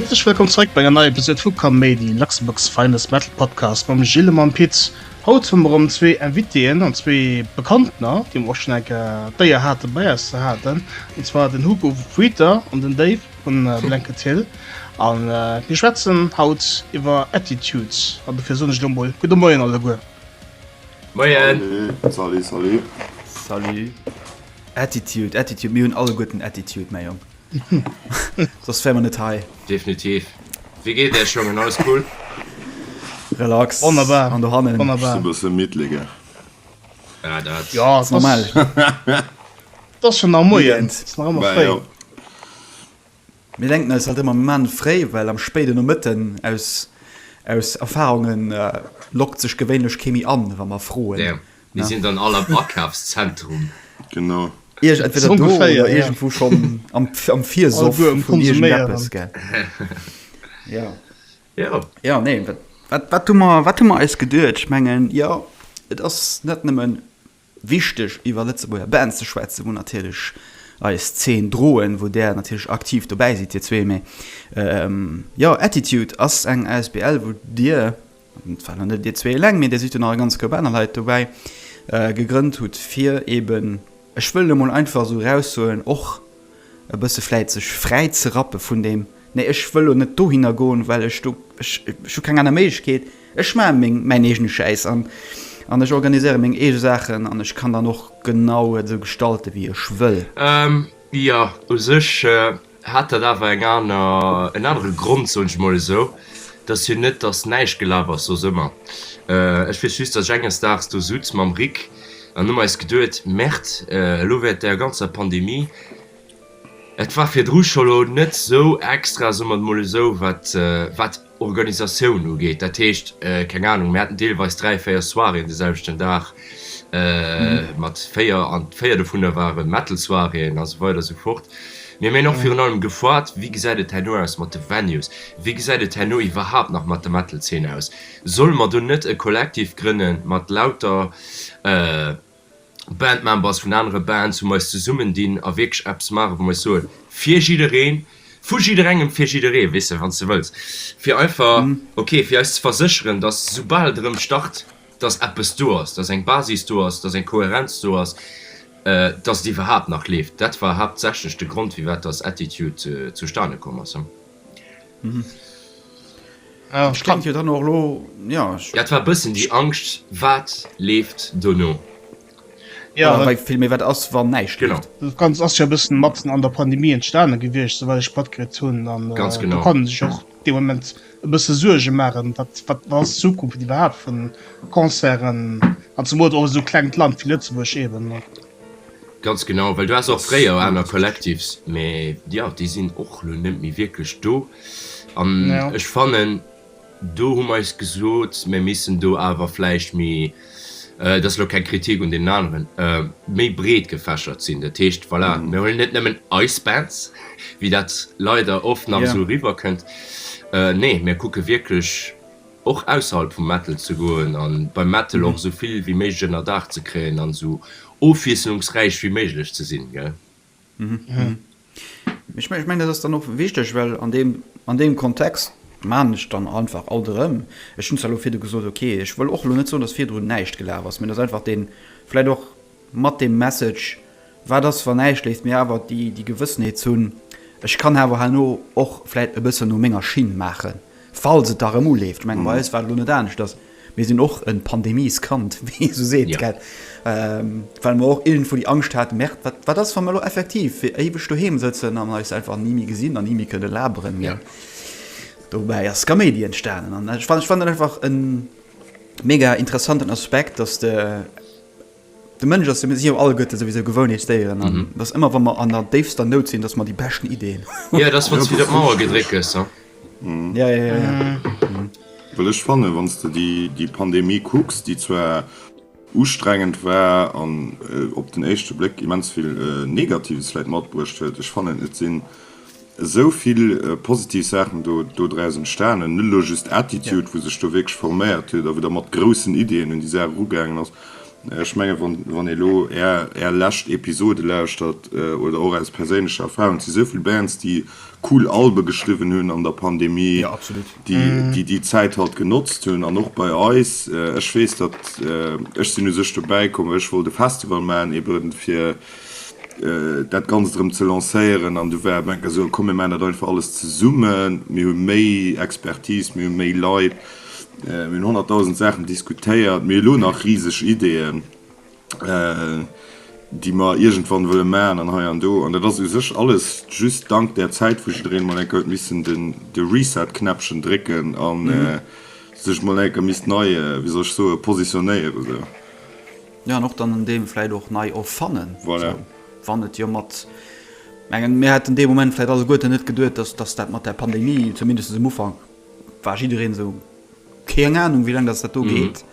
Herzlech wëllkomm zréck bei enger neier Episode vu Kaméidi, Luxembourg's finest Metal Podcast mam Gilles a mam Pit. Haut hu mer erëm zwee Invitéen an zwee Bekanntner, déi mer och schonn eng Kéier d'Éier hate bei eis ze haten, an zwar den Hugo Fuiter an den Dave. vun Blanket Hill an mir schwätzen haut iwwer Attitudes an dofir soen ech elo mol gudde Moien alleguer. Moien! Salut, salut! Salut! Attitude, Attitude, mir hunn alleguerten Attitude, mäi Jong. Soss wäre mer net hei. Definitiv. Wéi geet Iech, Jongen? Alles cool? Relax. Wonnerbar! An dohannen? Wonnerbar! Just e bësse midd, les gars. Ja, dat. Jo, ass normal. 't ass schon nach Moien, 't ass nach ëmmer fréi. Mir denken eis halt ëmmer Moment fréi, well am spéiden Nomëtten, aus Erfahrunge lockt sech gewéinlech kee méi an, wa mer froen. Mir sinn dann all am Akafszentrum. Genau. Iech entweder do oder iergendwou schonn am Virsoff vun iergendeppes, gell? Jo. Jo. Jo, nee, wat hu mer eis geduecht? Ech mengen, jo, et ass net nëmmen. Wichteg iwwer Lëtzebuerger Bands ze schwätzen, wou natierlech eis Zeen droen, wou där natierlech aktiv dobäi sidd dir zwee, mee jo Attitude ass eng Asbl wou dir, et war nach net dir zwee eleng, mee dir sidd jo nach e ganz Koup aner Leit dobäi, gegrënnt hutt fir eeben, ech wëll emol einfach esou eraussoen, och. e bësse vläit sech fräi ze rappe vun deem, nee ech wëll elo net dohinner goen, well ech do, ech ech hu keng aner Méiglechkeet, ech maache meng mäin eegene Schäiss an an ech organiséiere meng eege Saachen an ech kann dann och genau et esou gestalten, wéi ech wëll. Jo, u sech hat dat awer eng aner, en anere Grond, soen ech emol esou. Et ass jo net, datt näischt gelaf ass soss ëmmer. Ech weess just, datt ech enges Daags do sutz mam Rik, An hu mer eis geduet, Merd, elo während der ganzer Pandemie, et war virdru scho lo net sou extra, soe mer et mol esou, wat wat Organisatioun ugeet, dat heescht, keng Ahnung, mir haten deelweis dräi, véier Soiréen de selwechten Dag mat véier, an véier dovunner ware Metal-Soiréen a sou weider a sou fort. Mir hunn och virun allem gefragt, Wéi gesäit et herno aus mat de Venues? Wéi gesäit et herno iwwerhaapt nach mat der Metal-Zeen aus? Solle mer do net e Kollektiv grënne mat lauter Bandmembers vun anere Bands, wou mer eis zesummendinn a wierklech eppes maache wou mer eis soen, fir jiddereen, vu jidderengem fir jidderee, weess de, wann s de wëlls, fir einfach, ok, fir eis ze versécheren, datt soubal et erëm start, datt eppes do ass, datt eng Basis do ass, datt eng Kohärenz do ass, datt et iwwerhaapt nach leeft. Dat war haaptsächlech de Grond, firwat datt Attitude zustane komm ass. Ah, ich kann hier dann auch lo ja ich... dat war bëssen die Angscht wat leeft dono ja, ja viel mir wat ass wann näicht genau das ganz ass ja bëssen matzen an der Pandemie entstane gewicht soweit ich patkrit hunn dann äh, ganz genau kann sich och de moment e bësse Suerge machen wat wat was Zukunft überhaupt vun Concerten an zum Mot och so klengt Land wie Lëtzebuerg eben Ganz genau, well du has och fréier aner Collectifs, mä jo, déi sinn och elo net méi wierklech do. An ech fannen, do hu mer eis gesot, mir missten do awer vläicht méi, dat ass elo keng Kritik un deenen aneren, méi breet gefächert sinn. Dat heescht, voilà, mir huelen net nëmmen eis Bands, wéi dat leider oft nach esou eriwwerkënnt, nee, mir kucke wierklech, och ausserhalb vum Metal ze goen an beim Metal och esou vill wéi méiglech ënner Daach ze kréien an esou ofwiesselungsräich wéi méiglech ze sinn, gell? Ech mengen dat ass dann och wichteg, well an deem an deem Kontext maachen ech dann einfach alt erëm, ech hunn zwar elo virdu gesot, ok, ech wëll och elo net soen, datt virdrun näischt gelaf ass, mee datt einfach dee vläit och Mat dem Message, Wat ass, wann näischt léift mir awer déi Gewëssenheet hunn, ech kann awer herno och vläit e bëssen no menger Schinn maachen, falls et da erëm uleeft. Ech mengen, bei eis war et elo net aneschters. Mir sinn och e Pandemieskind, wéi ee esou seet, gell? Well mer och iergendwou déi Angscht haten, Merde, wat, wat ass, wa mer elo effektiv fir éiweg doheem sëtzen an eis einfach ni méi gesinn an ni méi kënne laberen, gell? Dobäi ass Skaméidi entstanen. An ech fannen, ech fannen dat einfach e mega interessanten Aspekt, dass de De Mënsch ass jo, mir sinn jo alleguerte souwisou Gewounheetsdéieren an et ass ëmmer, wa mer an der déifster Nout sinn, datt mer déi beschten Ideeën hunn. Jo, et ass, wann s du widder op d'Mauer gedréckt gëss, he? Ja, ja, ja, ja. Well ech fannen, wann s de déi Pandemie kucks, déi zwar ustrengend war an op den éischte Bléck immens vill Negatives vläicht matbruecht huet, ech fannen, et sinn esou vill positiv Saachen do draus entstanen, net elo just Attitude, wou sech do wierklech forméiert huet a wou da mat groussen Iddien un déi Saach erugaangen ass. Ech menge wann ee elo Är lescht Episode lauschtert oder och aus perséinlecher Erfahrung, et si esou vill Bands, déi cool Albe geschriwwen hunn an der Pandemie, déi déi Zäit halt genotzt hunn an och bei eis, ech weess, datt ech sinn u sech dobäi komm, well ech wollt e Festival maachen, eeben fir dat Ganzt erëm ze lancéieren an du war op eng Kéier esou, komm mir maachen dat einfach alles zesummen, mir hu méi Expertise, mir hu méi Leit, mir hunn honnertdausend Saachen diskutéiert, mir hu lo nach riseg Ideeën, déi mer iergendwann wëlle maachen an hei an do. An dat ass u sech alles just dank där Zäit, wou jiddereen emol eng Kéier huet missen de Reset-Knäppchen drécken a sech emol eng Kéier misst nei, wéi soll ech soen, positionéieren esou. Jo an och dann en Deel vläit och nei erfannen, esou wann et jo mat, mengen mir hätten dee Moment vläit alleguerten net geduet, dass dass dat mat där Pandemie, zumindest um Ufank war jiddereen esou, keng Ahnung wéi laang dass dat do geet,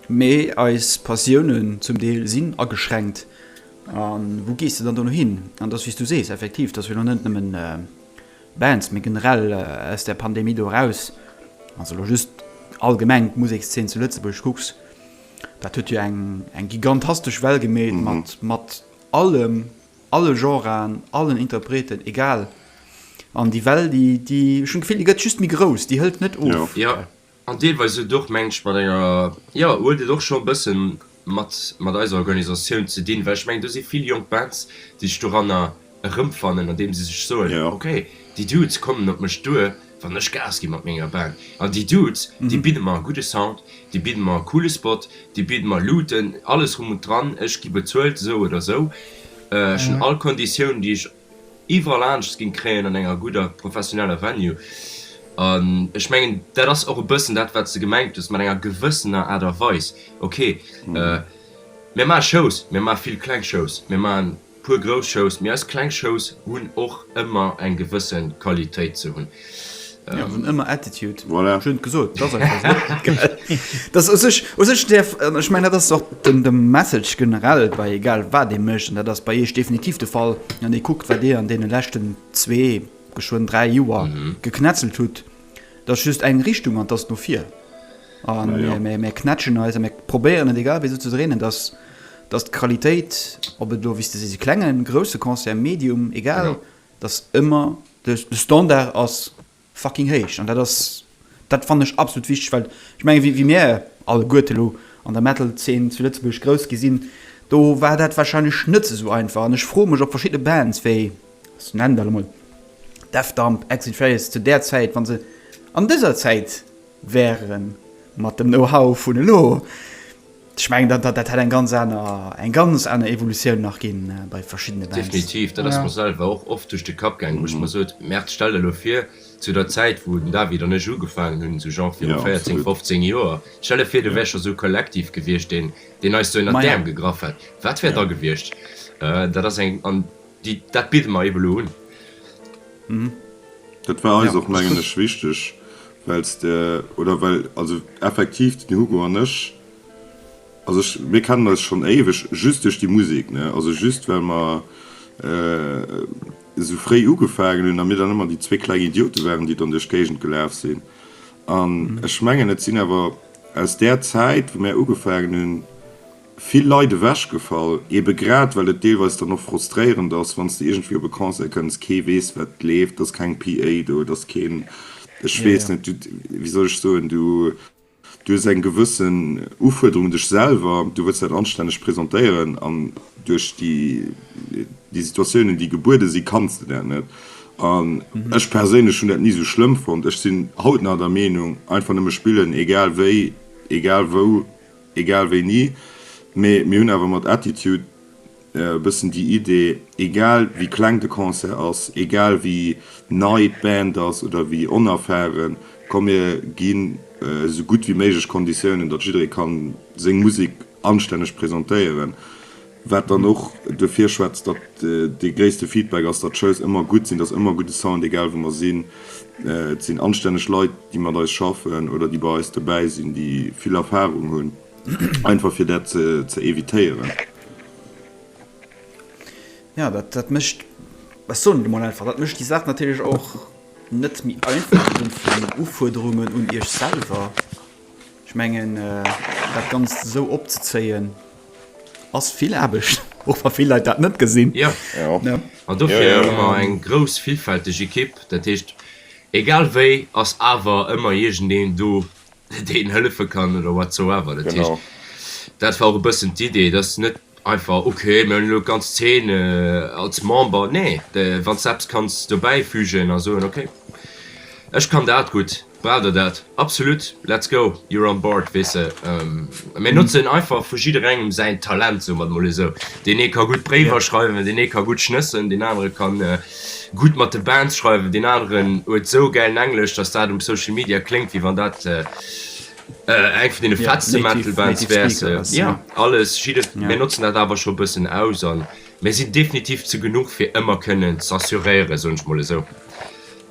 mee eis Passiounen zum Deel sinn ageschränkt a wou gees de dann dono hin? An dass, wéi s du sees, effektiv, dass elo net nëmmen Bands, mee generell aus där Pandemie do eraus, wann s de elo just allgemeng d'Musekszeen zu Lëtzebuerg kucks, Dat huet jo eng gigantastesch Well gemeet, mat allem, alle Genren, allen Interpreten, egal. An déi Well, ech hunn d'Gefill, déi gëtt just méi grouss, déi hëlt net of. Jo, an deelweis huet et och, meng ech, mat enger, jo, huet et och scho e bësse mat eiser Organisatioun ze dinn, well ech mengen, do si vill jonk Bands, déi sech doranner. erëmfannen andeem se sech soen, ok déi Dudes kommen op mech duer wann ech Gas gi mat menger Band an déi Dudes déi bidde mer e gudde Sound, déi bidde mer e coole Spot, déi bidde mer Looten, alles drum und dran, ech gi bezuelt esou oder esou, ech hunn all Konditiounen déi ech iwwerall aneschters géing kréien an enger gudder professioneller Venue. An ech mengen dat ass och e bëssen dat wat s de gemengt hues mat enger gewëssener Aart a Weis, ok mir maache Shows, mir maache vill kleng Shows, mir maachen puer grouss Shows, mee eis kleng Shows hunn och ëmmer eng gewësse Qualitéit ze hunn. Jo, hunn ëmmer Attitude. Voilà. Schön gesot. Dat ass einfach esou. Geil. Dat ass u sech, u sech däerf, an ech mengen, dat ass och de Message generell bei egal wat ee mécht, an dat ass bei Iech definitiv de Fall, wann ee kuckt, wat Dir an deene leschten zwee, geschwënn dräi Joer geknetzelt hutt, dat ass just eng Richtung, an dat ass no vir. A mir knätschen eis a mir probéieren et, egal wéi esou, ze dréinen, dass Dass d'Qualitéit, ob et elo, wéi s de sees, e klengen, grousse Concert, Medium, egal, dass ëmmer de Standard ass fucking héich. An dat ass, dat fannen ech absolut wichteg, well ech menge wéi mir alleguerte elo an der Metal-Zeen zu Lëtzebuerg grouss gi sinn, do war dat warscheinlech net esou einfach. An ech froe mech, ob verschidde Bands wéi, ech nennen der elo mol Death Dump, Exit Faiz, zu där Zäit, wa se an dëser Zäit, wären mat dem Know-how vun elo, ech mengen, dat, dat hätt eng ganz aner, eng ganz aner Evolutioun nach ginn bei verschiddene Bands. Definitiv, dat ass mer selwer och oft duerch de Kapp gaangen, wou ech mer sot, Merde, stell der elo vir, zu der Zäit, wou den David an ech ugefaangen hunn, esou genre viru 14, 15 Joer, stell der vir, do wär scho esou e Kollektiv gewiescht, deen, deen eis esou ënnert d'Äerm gegraff hätt, wat wär da gewiescht? Dat ass eng, an déi, dat bidde mer eebe lo un. Dat war eis och, mengen ech, wichteg, Well s de, oder well, also effektiv den Hugo an ech, also ech, mir kennen eis schonn éiweg just duerch déi Musek, ne, also just well mer esou fréi ugefaangen hunn a mir dann ëmmer déi zwee kleng Idiote waren, déi dann duerch d'Géigend gelaf sinn. An ech mengen, et sinn awer aus där Zäit, wou mir ugefaangen hunn, vill Leit ewechgefall, ebe grad well et deelweis dann och frustréierend ass, wann s de iergendwéi op e Concert kënns, kee weess wat leeft, et ass keng PA do, et ass keen, ech weess net, du, wéi soll ech soen, du hues eng gewëssen Ufuerderung un dech selwer, du wëlls dat anstänneg presentéieren an duerch déi déi Situatiounen, déi gebuede si kanns de dat net. An ech perséinlech hunn dat ni esou schlëmm fonnt, ech sinn haut nach der Meenung, einfach nëmme spillen, egal wéi, egal wou. Egal wéini, mee mir hunn awer mat Attitude e bëssen déi Idee, egal wéi kleng de Concert ass, egal wéi nei d'Band ass oder wéi onerfaren, komm mir ginn esou gutt wéi méiglech Konditiounen, datt jidderee ka seng Musek anstänneg presentéieren. Wat dann och duerfir schwätzt, datt dee gréisste Feedback ass, datt d'Shows ëmmer gutt sinn, datt ëmmer gudde Sound, egal wou mer sinn. Et sinn anstänneg Leit, déi mat eis schaffen oder déi bei eis dobäi sinn, déi vill Erfarung hunn, einfach fir dat ze evitéieren. Jo, dat mécht, ech soen et emol einfach, dat mécht déi Saach natierlech och net méi einfach, esou vu den Ufuerderungen un Iech selwer. Ech mengen, dat Ganzt esou opzezéien. Ass vill Aarbecht, och wa vill Leit dat net gesinn. Jo, an dofir hu mer eng grouss villfälteg Ekipp. Dat heescht, egal wéi ass awer ëmmer iergendeen do, deen hëllefe kann oder whatsoever. Dat heescht, dat war och e bëssen d'Idee, dass net einfach, okay, mir hunn elo d'ganz Zeen als Member. Nee, wann s de eppes kanns dobäifügen a soen, okay, ech kann dat gutt, Brauch der dat? Absolut! Let's go! You're on board, weess de. Mir notzen einfach vu jidderengem säin Talent, soe mer et emol esou. Deen ee ka gutt Bréiwer schreiwen, deen ee ka gutt schnëssen, deen anere ka gutt mat de Bands schreiwen, deen aneren huet esou gäilen Englesch, datt dat um Social Media kléngt, wéi wann dat eng vun deene fettste Metal-Bands wär. Jo, alles, jidde. Mir notzen dat awer scho e bëssen aus a mir sinn definitiv ze genuch, fir ëmmer kënnen z'assuréieren, soen ech mol esou.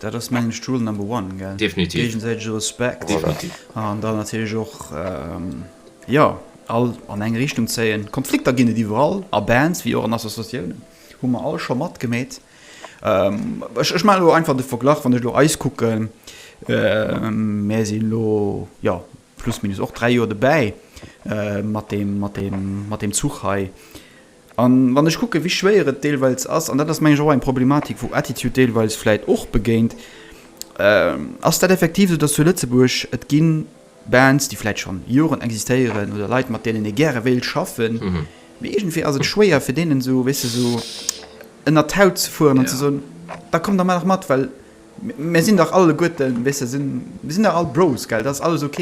Dat ass mengen ech Rule number one, gell? Definitiv. Géigesäitege Respekt. Voilà. An dann natierlech och, jo, all an eng Richtung zéien. Konflikter ginn et iwwerall, a Bands wéi och an Associatiounen, hu mer all scho matgemeet. Ech maachen elo einfach de Verglach, wann ech elo eis kucken, mär sinn elo, jo, plus minus och dräi Joer dobäi mat deem, mat deem, mat deem Zuch hei. A wann ech kucken, wéi schwéier et deelweils ass, an dat ass, meng ech, och eng Problematik, wou Attitude deelweils vläicht och begéint, ass dat effektiv esou, dass zu Lëtzebuerg et gi Bands, déi vläicht scho Joren existéieren, oder Leit, mat deenen ee gäre wéilt schaffen, mee iergendwéi ass et schwéier fir deenen esou, weess de, esou ënnert d'Haut ze fueren an ze soen, Da kommt der mol nach mat, well. Mir sinn dach alleguerten, weess de, mir sinn dach all Bros, gell? Dat ass alles ok.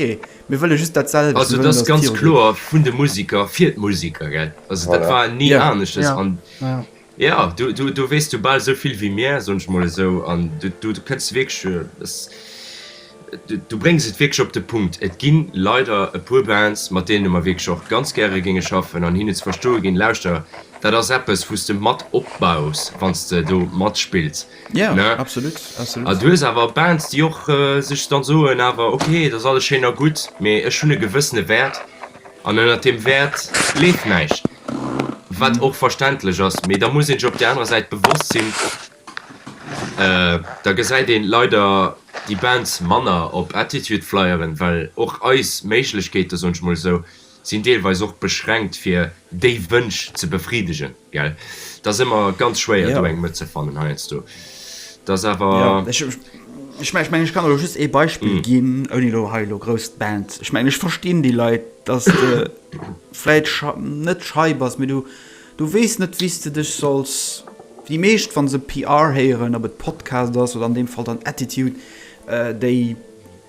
Mir wëlle just dat selwecht. Also et ass ganz kloer vun de Museker fir d'Museker, gell? Also dat war ni aneschters. An jo, do weess du bal esou vill wéi mir, soen ech mol esou. An do kënns de wierklech, du bréngs et wierklech op de Punkt. Et gi leider e puer Bands, mat deene mer wierklech och ganz gäre géinge schaffen an hinne ze verstoe ginn, lauschter, dat ass eppes, wou s de mat opbaus, wann s de do matspills. Ja, ne? absolut, absolut. A du hues awer Bands, déi och äh, sech dann soen awer, okay, dat ass alles schéin a gutt, mee ech hunn e gewëssene Wäert an ënnert dem Wäert leeft näischt. Wat och verständlech ass, mee da muss een sech op där anerer Säit bewosst sinn, äh, da gesäit een leider déi Bands manner op Attitude-Flyeren, well och eis Méiglechkeete, soen ech mol esou, sinn deelweis och beschränkt fir déi Wënsch ze befriedegen, gell? Et ass ëmmer ganz schwéier do eng Mëtt ze fannen heiansdo. Et ass awer. Ech mengen, ech kann elo just ee Beispill ginn, ouni elo hei elo grouss d'Band. Ech mengen, ech verstinn déi Leit, datt de vläit net schei bass, mee du weess net, wéi s de dech solls. Déi meescht, wa se PR héieren, ob et Podcast ass oder an deem Fall dann Attitude, déi.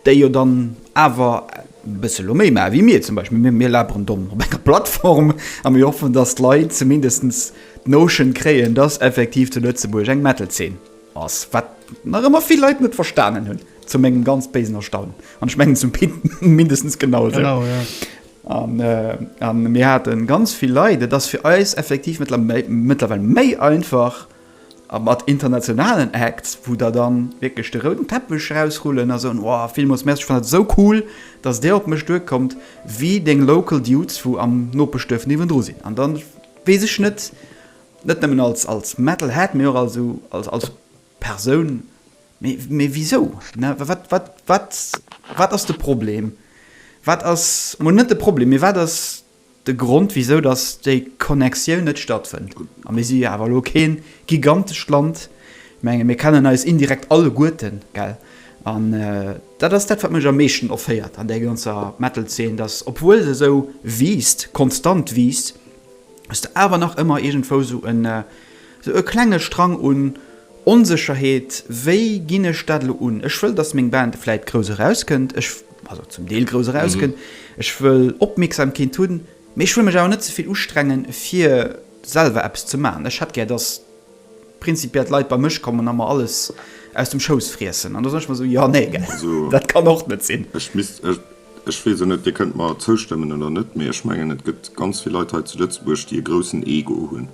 déi jo dann awer e bësse elo méi maache wéi mir zum Beispill, mir laberen domm op enger Plattform a mir hoffen, datt d'Leit zumindest d'Notion kréien, datt effektiv zu Lëtzebuerg eng Metal-Zeen ass, wat nach ëmmer vill Leit net verstanen hunn, zu mengem ganz béisen Erstaunen, an ech mengen zum Pit mindestens genau esou. Genau, ja. A mir hate ganz vill Leit, et ass fir eis effektiv mëttlerweil méi einfach, A mat internationalen Acts, wou der dann wierklech de rouden Teppech rausrullen a soen, Wow, villmools Merci, ech fannen et esou cool, dass Dir op mech duerkommt, wéi deng local Dudes, wou am Nopeschduerf niewendru sinn. An dann weess ech net, net nëmmen als Metal Head, mee och als Persoun, Mee wisou? Wat ass de Problem? Wat ass, mol net de Problem, mee wat ass De Grond wisou datt déi Connexioun net stattfënnt, a mir si jo awer elo kee gigantescht Land, mengen mir kennen eis indirekt alleguerten, gell, an dat ass dat wat mech am meeschten offéiert an där ganzer Metal-Zeen, datt obwuel se esou wiisst, konstant wiisst, s de awer nach ëmmer iergendwou esou en. Sou e klenge Strang un Onsécherheet, wéi ginn ech dat elo un? Ech wëll, datt meng Band vläit grouss erauskënnt, ech, also zum Deel grouss erauskënnt, ech wëll Opmierksamkeet hunn, mee ech wëll mech awer net ze vill ustrengen, fir selwer eppes ze maachen. Ech hätt gär, datt prinzipiell d'Leit bei mech kommen a mer alles aus dem Schouss friessen. An do soen ech mer esou, jo, nee, gell, dat kann och net sinn. Ech misst, ech weess och net, Dir kënnt mer zoustëmmen oder net, mee ech mengen, et gëtt ganz vill Leit hei zu Lëtzebuerg, déi e groussen Ego hunn.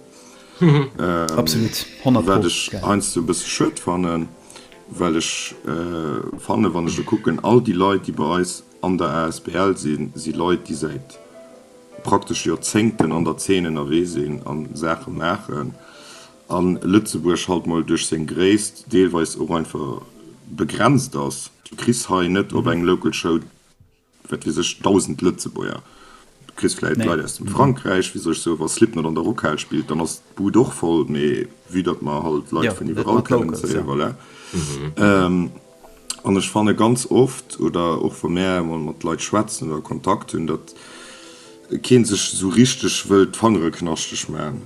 Absolut, 100 Pro. Wat ech heiansdo e bësse schued fannen, well ech fannen, wann ech kucken, all déi Leit, déi bei eis an der Asbl sinn, si Leit, déi säit praktesch Joerzéngten an der Zeen ënnerwee sinn a Saache maachen a Lëtzebuerg halt mol duerch seng Gréisst deelweis och einfach begrenzt ass. Du kriss hei net op eng Local Show. Wat weess ech, 1.000 Lëtzebuerger. Du kriss vläit Leit aus dem Frankräich, wéi sech esou, wa Slipknot an der Rockhal spillt, dann ass d'Bud och voll, mee vue datt mer halt Leit vun iwwerall kënnen, ça y est, voilà. An ech fanne ganz oft, oder och wa mär emol mat Leit schwätzen oder Kontakt hunn, datt. keen sech sou richteg wëll d'Fangere knaschteg man,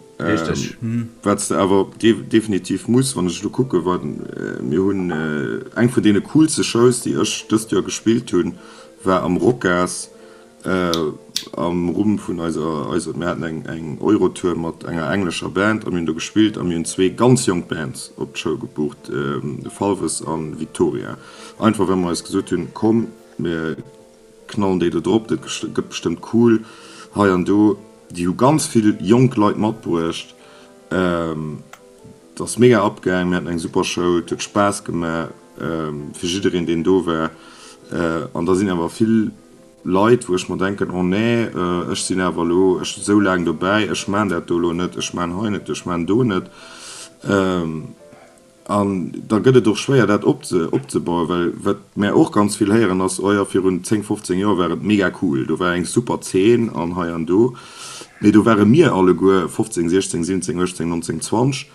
wat s de awer definitiv muss, wann ech elo kucke wat mir hunn. Eng vun deene coolste Shows, déi ech dëst Joer gespillt hunn, war am Rocas am Rumm vun eiser, mir haten eng Eurotour mat enger englescher Band a mir hunn do gespillt a mir hunn zwee ganz jonk Bands op d'Show gebucht, Falves an Victoria, einfach well mer eis gesot hunn, komm mir. Knallen déi do drop, dat gëtt bestëmmt cool. Hei an do, déi hu ganz vill jonk Leit matbruecht. Et ass mega abgaang, mir haten eng super Show, et huet Spaass gemaach fir jiddereen deen do war. An da sinn awer vill Leit wou ech mer denken, oh nee, ech sinn awer elo esou laang dobäi, ech maan dat do elo net, ech maan hei net, ech maan do net. An da gëtt et och schwéier, dat opzebauen. Well wat mär och ganz vill héieren ass, Oh jo, virun 10, 15 Joer war et mega cool, do war eng super Zeen an hei an do. Mee do ware mir alleguer 15, 16, 17, 18, 19, 20.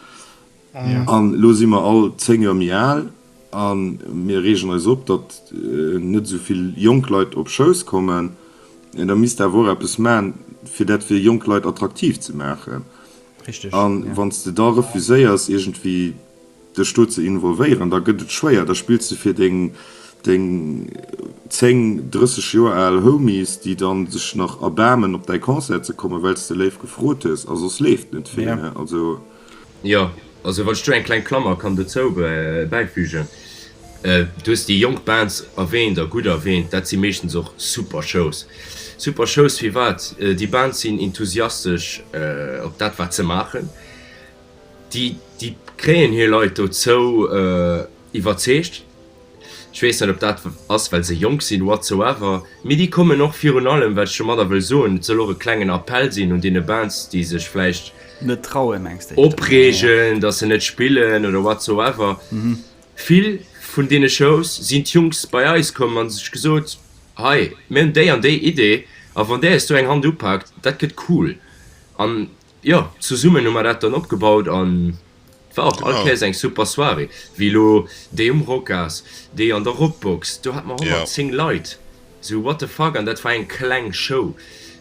An elo si mer all 10 Joer méi al a mir reegen eis op, datt net esou vill jonk Leit op Shows kommen. Da misst Der awer och eppes maachen, fir dat fir jonk Leit attraktiv ze maachen. An wann s de da refuséiers iergendwéi dech do ze involvéieren, da gëtt et schwéier, da spills de fir deng 10, 30 Joer al Homies, déi dann sech nach erbaarmen op däi Concert ze kommen, well s de léif gefrot hues, a soss leeft net vill, ne? Also. Jo, also wann ech do eng kleng Klammer kann dozou bäifügen, Du hues déi jonk Bands erwähnt, a gutt erwähnt, dat si meeschtens och super Shows. Super Shows firwat? Déi Bands sinn enthusiastesch op dat wat se maachen, déi déi kréien hir Leit dozou iwwerzeegt. Ech weess net ob dat ass well se jonk sinn, whatsoever, mee déi kommen och virun allem, wat ech domadder wëll soen, et soll och e klengen Appell sinn un deene Bands déi sech vläicht net trauen, oppreegen, datt se net spillen oder whatsoever, Vill vun deene Shows sinn d'Jungs bei eis komm a sech gesot, hei mir hunn déi an déi Idee a wann där esou eng Hand upaakt, dat gëtt cool. An jo, zesummen hu mer dat dann opgebaut an et war och all Kéiers eng super Soirée, wéi elo déi um Rocas, déi an der Rockbox, do hat mer 110 Leit. Sou what the fuck an dat war eng kleng Show?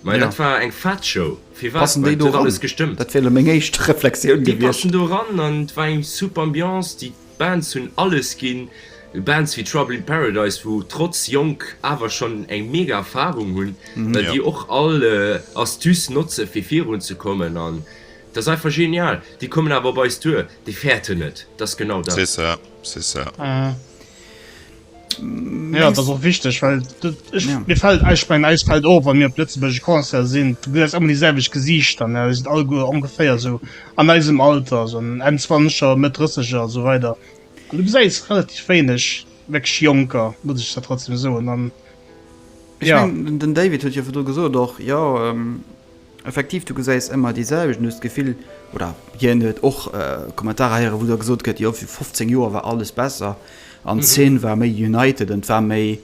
Majo dat war eng fett Show, firwat? Well et huet alles gestëmmt. Déi passen do ran an et war eng super Ambiance, déi Bands hunn alles ginn, Bands wéi Trouble in Paradise wou trotz jonk awer schonn eng mega Erfarung hunn, well déi och all Astuce notze fir virun ze kommen an et ass einfach genial. Déi kommen awer op eis duer, déi fäerten et, et ass genau dat. C'est ça, c'est ça. Ja, dat ass och wichteg, well mir fält, ech mengen eis fält och, wann mir op lëtzebuergesche Concerte sinn, du gesiis ëmmer déi selwecht Gesiichter, ne, déi sinn all guer ongeféier esou an eisem Alter, esou an Enn Zwanzeger, Mëtt Drësseger a sou weider an du gesäis relativ wéineg wierklech Jonker, muss ech der trotzdem soen an, ja. Ech mengen den David huet jo virdru gesot och, jo, Effektiv, du gesäis ëmmer déi selwecht an hues d'Gefill, oder hien huet och Kommentarer héieren, wou da gesot gëtt, jo fir 15 Joer war alles besser an d'Szene war méi united an et war méi.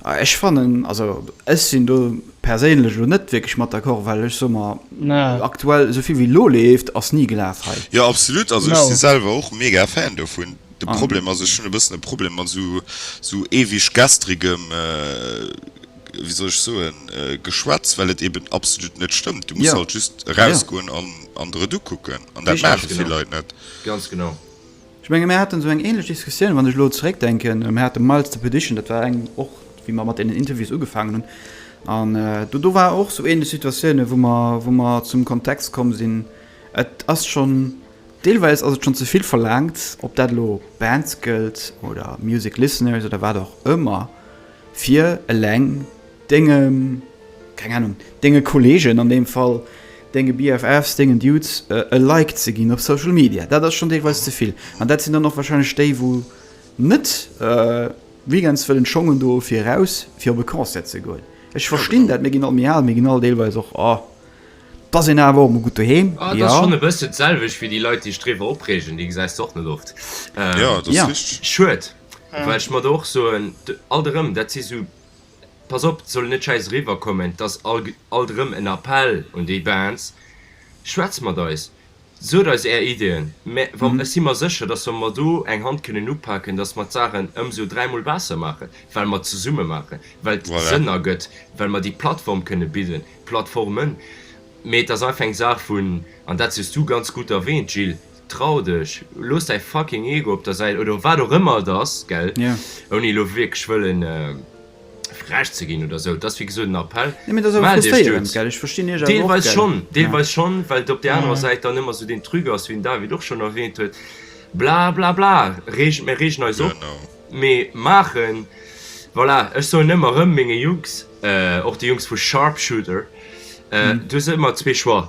Ech fannen, also ech sinn do perséinlech elo net wierklech mat d'accord, well ech soe mer, aktuell esou vill wéi elo leeft, ass ni gelaf hei. Jo absolut, also ech si selwer och mega Fan dovun. De Problem ass, ech hunn e bëssen e Problem mat esou ewig gestrigem. wéi soll ech soen, Geschwätz, well et eben absolut net stëmmt. Du muss halt just erausgoen an der et ukucken. An dat maache vill Leit net. Ganz genau. Ech menge mir hate sou eng ähnlech Diskussioun, wann ech elo zeréckdenken, mir hate Miles the Petition, dat war eng och, wéi mer mat deenen Interviews ugefaangen hunn. An do ware och sou ähnlech Situatiounen, wou mer, wou mer zum Kontext komm sinn, et ass schonn, deelweis ass et schonn ze vill verlaangt, ob dat elo Bands gëllt oder Music Listeners oder wat och ëmmer, Fir eleng denge, keng Ahnung, denge Kollegen, an deem Fall denge BFFs, dengen Dudes, e Like ze ginn op Social Media, dat ass schonn deelweis ze vill. An dat sinn dann och warscheinlech déi, wou net weekends wëllen schongen do fir eraus, fir op e Concert ze goen. Ech verstinn dat, mir ginn all méi al, mir ginn all deelweis och, oh, pass een awer och mol gutt doheem, jo. Et ass schonn e bësschen d'selwecht wéi déi Leit, déi sech driwwer opreegen, déi gesäis de och net oft. Schued. Well ech mer do och soen, alt erëm, dat si sou, pass op, et soll net schäiss eriwwerkommen, et ass alt erëm en Appell un déi Bands, schwätzt mat eis, sot eis Är Ideeën, mä wa ech si mer sécher, datt wa mer do eng Hand kënnen upaken, datt mer d'Saachen ëmsou dräimol besser maachen, well mer zesumme maachen, well et Sënn ergëtt, well mer déi Plattform kënne bidden, Plattformen. Mä et ass einfach eng Saach vun, an dat hues Du ganz gutt erwähnt, Gilles, Trau dech, looss däi fucking Ego op der Säit oder wat och ëmmer et ass, gell, ouni elo wierklech wëllen frech ze ginn oder sou. Et ass wéi gesot en Appell, mell dech duerz. Deelweis schonn, deelweis schonn, well et op där anerer Säit dann ëmmer sou deen Truc ass, wéi den David och schonn erwähnt huet, bla bla bla, reegen, mir reegen eis op, mee maachen, voilà, ech soen ëmmer erëm menge Jungs, och déi Jungs vu Sharpshooter, du hues ëmmer zwee Choix.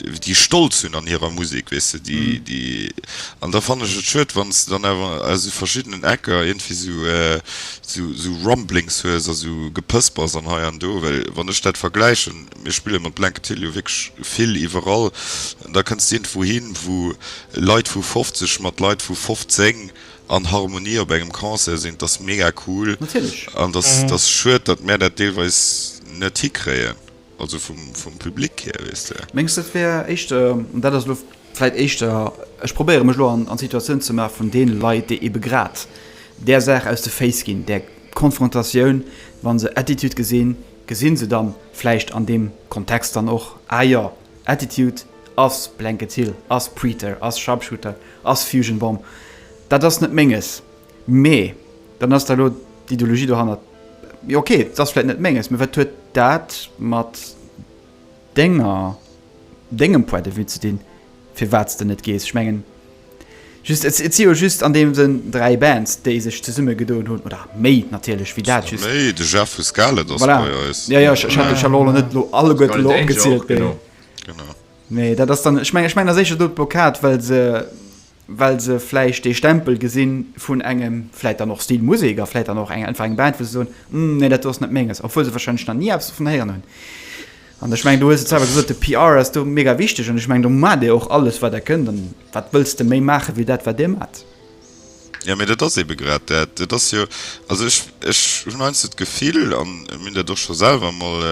déi stolz hunn an hirer Musek, weess de, déi, déi, an da fannen ech et schued, wann s de dann awer aus esou verschiddenen Ecker iergendwéi esou, esou, esou Rumblings hues a esou Gepëspers an hei an do, well wann ech dat vergläichen, mir spille mat Blanket Hill jo wierklech vill iwwerall, an da kënns de iergendwou hin, wou Leit vu 50 mat Leit vu 15 an Harmonie op engem Concert sinn, dat ass mega cool an dat ass schued, datt mär dat deelweis net hikréien. Also vum Public hier, weess de. Mengs de et wär éischter, an dat ass elo vläit éischter, ech probéiere mech elo an d'Situatioun ze maache vun deene Leit, déi ebe grad där Saach aus de Féiss ginn, där Konfrontatioun, wa se Attitude gesinn, gesi se da vläicht an deem Kontext dann och, ah jo, Attitude ass Blanket Hill, ass Preater, ass Sharpshooter, ass Fusion Bomb, dat ass net Menges. Mee dann ass da elo d'Ideologie dohannert, jo ok, et ass vläit net Menges, mee wat huet dat mat Denger, Dengem Point de vue ze dinn, firwat s de net gees? Ech mengen just, et si jo just an deem Sënn dräi Bands, déi sech zesumme gedoen hunn, oder méi natierlech wéi dat just. Méi, de Jeff vu Scarlet ass bei eis. Voilà, jo jo, ech hat ech hat elo net elo alleguerten elo opgezielt, mee. Genau. Mee dat ass dann, ech mengen, ech mengen, dat ass éischter do d'Blockad, well se well se vläicht dee Stempel gesi vun engem, vläicht dann och Stilmusek a vläicht dann och einfach eng Band, wou se soen, Hm, nee, dat do ass net Menges. Obwuel se warscheinlech nach ni eppes dovun héieren hunn. An ech mengen, du hues et selwer gesot, de PR ass do mega wichteg. An ech mengen, do maacht Dir och alles, wat Der kënnt. A wat wëlls de méi maachen, wéi dat, wat Dir maacht? Jo, mee dat ass eebe grad dat. Et ass jo, also ech hunn heiansdo d'Gefill, a mir hunn dat och scho selwer emol,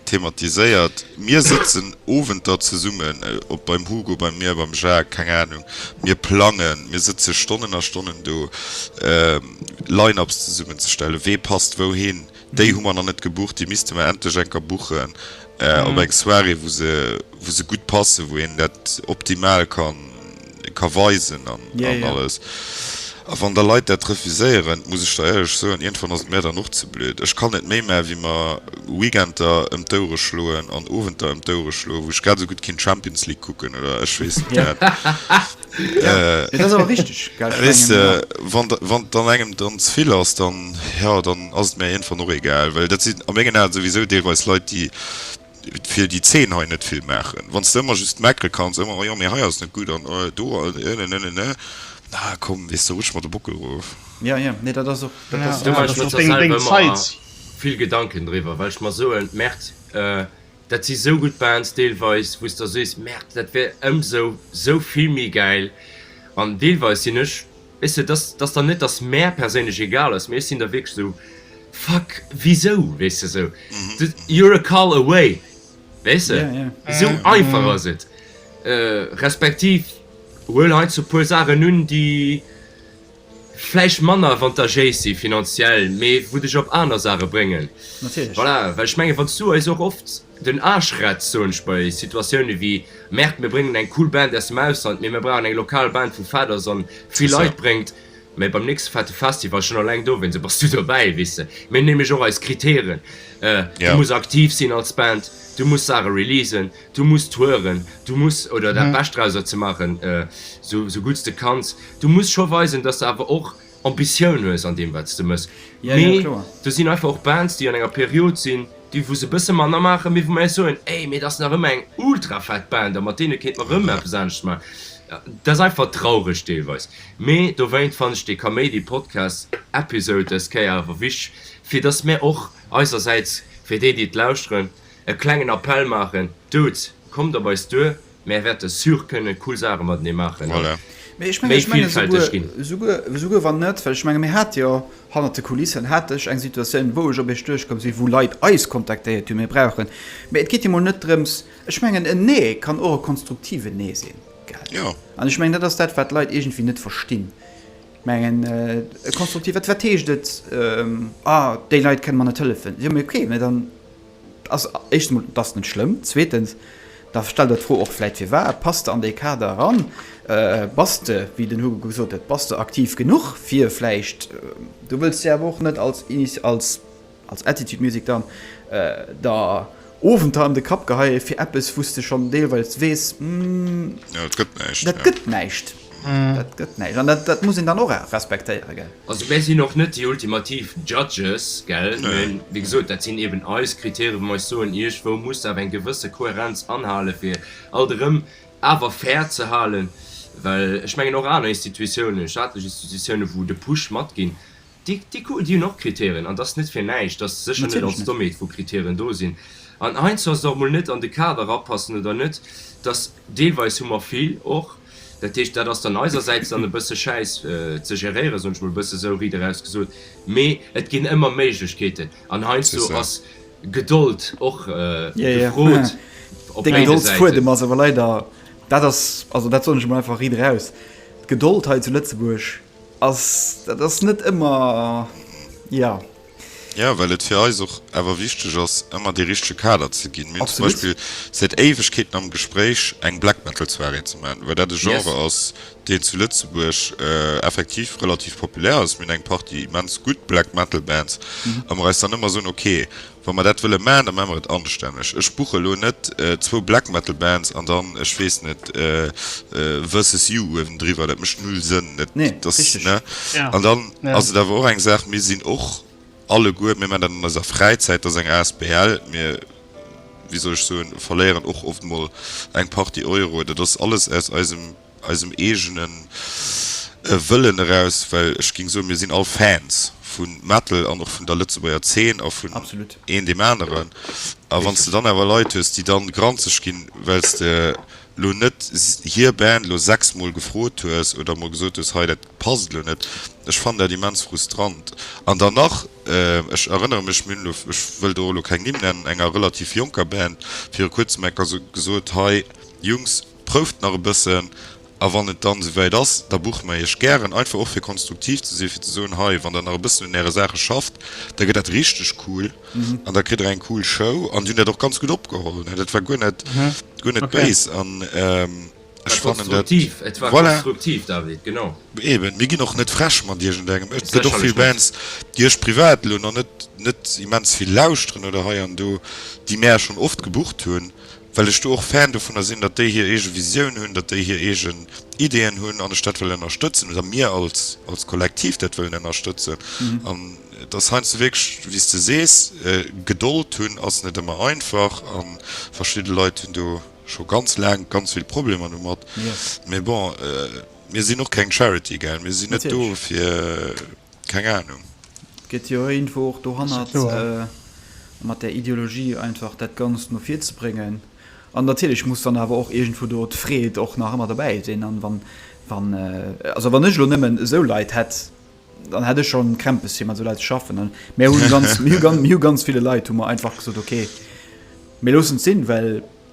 thematiséiert, mir sëtzen Owenter zesummen op beim Hugo, bei mir, beim Jacques, keng Ahnung, mir plangen, mir sëtze Stonnen a Stonnen do Line-ups zesummenzestellen, wee passt wouhin, déi hu mer nach net gebucht, déi misste mer endlech eng Kéier buchen op eng Soirée, wou se, wou se gutt passen, wou een dat optimal kann ka weisen an alles. A wann da Leit dat refuséieren, muss ech der éierlech soen, iergendwann ass et mär dann och ze blöd. Ech kann net méi mä wéi mer Weekender ëm d'Ouere schloen an Owenter ëm d'Ouere schloen, wou ech grad esou gutt kéint Champions League kucken oder ech weess net wat. Weess de, wann et dann engem dann ze vill ass, dann, jo, dann ass et mär iergendwann och egal. Well dat sinn a mengen Aen souwisou deelweis Leit, déi. fir déi Zeen hei net vill maachen, wann s de ëmmer just meckere kanns, ëmmer, oh jo, mee hei ass net gutt an do ënnenënnenënne, na komm, weess de, rutsch mer de Bockel erof. Ja, ja, nee, dat ass och, dat ass, Do maache ech mer zwar selwer ëmmer vill Gedanken driwwer, well ech mer soen, merde, dat si sou gutt Bands deelweis, wou s der sees, merde, dat wär ëmsou sou vill méi gäil an deelweis sinn ech, Weess de, dass dass dann net, dass mär perséinlech egal ass, mee ech sinn da wierklech esou, Fuck, wisou? Weess de, esou, You're a call away, weess de, esou einfach ass et. Respektiv huel heiansdo e puer Saachen un, déi vläicht manner avantagéis si finanziell, mee wou dech op aner Saache bréngen. Natierlech. Voilà, well ech mengen, wann s du eis och oft. Den Aschretz soen ech bei Situatioune wéi, Merde, mir bréngen eng cool Band aus dem Ausland, mee mir brauchen eng lokal Band vu Faders an vill Leit bréngt mir beim nächste fette Festival, schon alleng dowéinst e bass du dobäi, weess de. Mir hunn nämlech och eis Kritären, du muss aktiv sinn als Band, du muss Saache releasen, du muss touren, du muss, oder dat Bescht drauser ze maachen, sou gutt s de kanns, du muss scho weisen, dass s de awer och Ambitiounues an deem wat s de mëss, mee do sinn einfach och Bands déi an enger Period sinn déi wou se e bësse manner maachen, mee wou mer eis soen, ey, mee et ass nach ëmmer eng ultra fett Band a mat deene kéint mer erëm eppes anescht maachen. Dat ass einfach traureg deelweis, mee dowéint fannen ech dee Kaméidi Podcast Episode dës Kéier awer wichteg, fir datt mer och eisersäits, fir déi déi et lauschteren, e klengen Appell maachen, Dudes, kommt op eis duer, Mär wäerte sûr kënne cool Saache matenee maachen a méi villfälteg ginn. Souguer wann net, well ech menge mir hate jo hannert de Kulissen hat ech eng Situatioun, wou ech op iech duerchkomm sinn, wou Leit eis kontaktéiert hunn, mir brauchen. Mee et geet jo mol net drëms, ech mengen en Nee kann och e konstruktiven Nee sinn, gell? An ech mengen dat ass dat, wat d'Leit iergendwéi net verstinn. Mengen e konstruktiv, wat heescht et, ah déi Leit kënne mer net hëllefen. Jo, mee okay, mee dann. 't ass éischtens emol, 't ass net schlëmm. Zweetens, da stell der d'Fro och vläit, firwat pass de an dee Kader eran? Bass de, wéi den Hugo gesot huet, bass de aktiv genuch fir vläicht, du wëlls jo awer och net als, als, als Attitude Music dann der Owenter an de Kapp geheie fir eppes, wou s de schonn deelweils weess, hm, dat gëtt näischt. Dat gëtt näischt an dat dat muss een dann och respektéieren, gell. Also mär sinn och net déi ultimativ Judges, gell, mä wéi gesot, dat sinn eeben eis Kritäre, wou mer eis soen, iergwou muss awer eng gewësse Kohärenz anhalen, fir alt erëm awer fair ze halen, well ech mengen och aner Institutiounen, staatlech Institutiounen, wou de Push matginn, Déi hunn och Kriterien, an et ass net fir näischt, datt se sécher net als Domeed vu Kriterien do sinn. An heiansdo ass et och mol net an de Kader erapassen oder net, datt deelweis hu mer vill och. Dat heescht, dat ass dann eisersäits dann e bësse schäiss ze geréieren, soen ech mol e bësse sou riit eraus gesot. Mee et ginn ëmmer Méiglechkeeten an heiansdo ass Gedold och gefrot op béide Säiten. Dee Gedoldsfuedem ass awer leider, dat ass, also dat soen ech emol einfach riit eraus, d'Gedold hei zu Lëtzebuerg, Ass, dat ass net ëmmer, jo. Jo, well et fir eis och awer wichteg ass, ëmmer dee richtege Kader ze ginn. Mir hunn zum Beispill säit Éiwegkeeten am Gespréich, eng Black Metal Soirée ze maachen, well dat e Genre ass, deen zu Lëtzebuerg effektiv relativ populär ass. Mir hunn eng Partie immens gutt Black Metal Bands a mer eis dann ëmmer soen, ok, Wa mer dat wëlle man, da man mer et anstänneg. Ech buche lo net zwou Black Metal Bands an dann, ech weess net, Versus You uewendriwwer. Dat mécht null Sënn. Dat ass, ne? An dann ass et awer och eng Saach, mir sinn och alleguer, mir man dat an eiser Fräizäit, dat ass eng asbl, mir, wéi soll ech soen, verléieren och oft mol eng Partie Euro. Dat ass alles aus eisem. eisem eegenen Wëllen eraus, well ech géing soen, mir sinn all Fans vu Metal an och vun der Lëtzebuerger Zeen a vun een deem aneren. A wann s de dann awer Leit hues, déi dann granzeg ginn, well s de elo net hir Band elo sechsmol gefrot hues oder emol gesot hues, hei, dat passt elo net. Ech fannen dat immens frustrant. An dann nach, ech erënnere mech, mir hunn elo, ech wëll do elo keng Nimm nennen, enger relativ jonker Band viru kuerzem enker gesot, hei, Jungs, Prouft nach e bëssen a wann et dann esouwäit ass, da buche mer Iech gären, einfach och fir konstruktiv ze sinn, fir ze soen, hei, wann Der nach e bëssen un Äre Saache schafft, da gëtt dat richteg cool an da kritt Der eng cool Show. An déi hunn dat och ganz gutt opgeholl, ne? Dat war guer net, guer net béis an ech fannen dat, voilà, eben, mir ginn och net frech mat iergendengem. Et gëtt och vill Bands, déi ech privat elo nach net, net immens vill lauschteren oder hei an do, déi mär schonn oft gebucht hunn, well ech do och Fan dovunner sinn, datt déi hir eege Visioun hunn, datt déi hir eegen Ideeën hunn an ech dat wëll ënnerstëtzen oder mir als als Kollektiv dat wëllen ënnerstëtzen. An et ass heiansdo wierklech, wéi s de sees, Gedold hunn ass net ëmmer einfach a verschidde Leit hunn do scho ganz laang ganz vill Problemer domat. Mee bon, mir sinn och keng Charity, gell, mir sinn net do fir. Keng Ahnung. Gëtt jo iergendwou och dohannert mat där Ideologie einfach dat Ganzt no vir ze bréngen. An natierlech muss dann awer och iergendwou do d'Freed och nach ëmmer dobäi sinn. An wann, wann, also wann ech elo nëmmen esou Leit hätt, dann hätt ech schonn Krämpes fir mat esou Leit ze schaffen. An mir hunn ganz, mir hu ganz ville Leit hu mer einfach gesot, okay, mir loossen et sinn, well,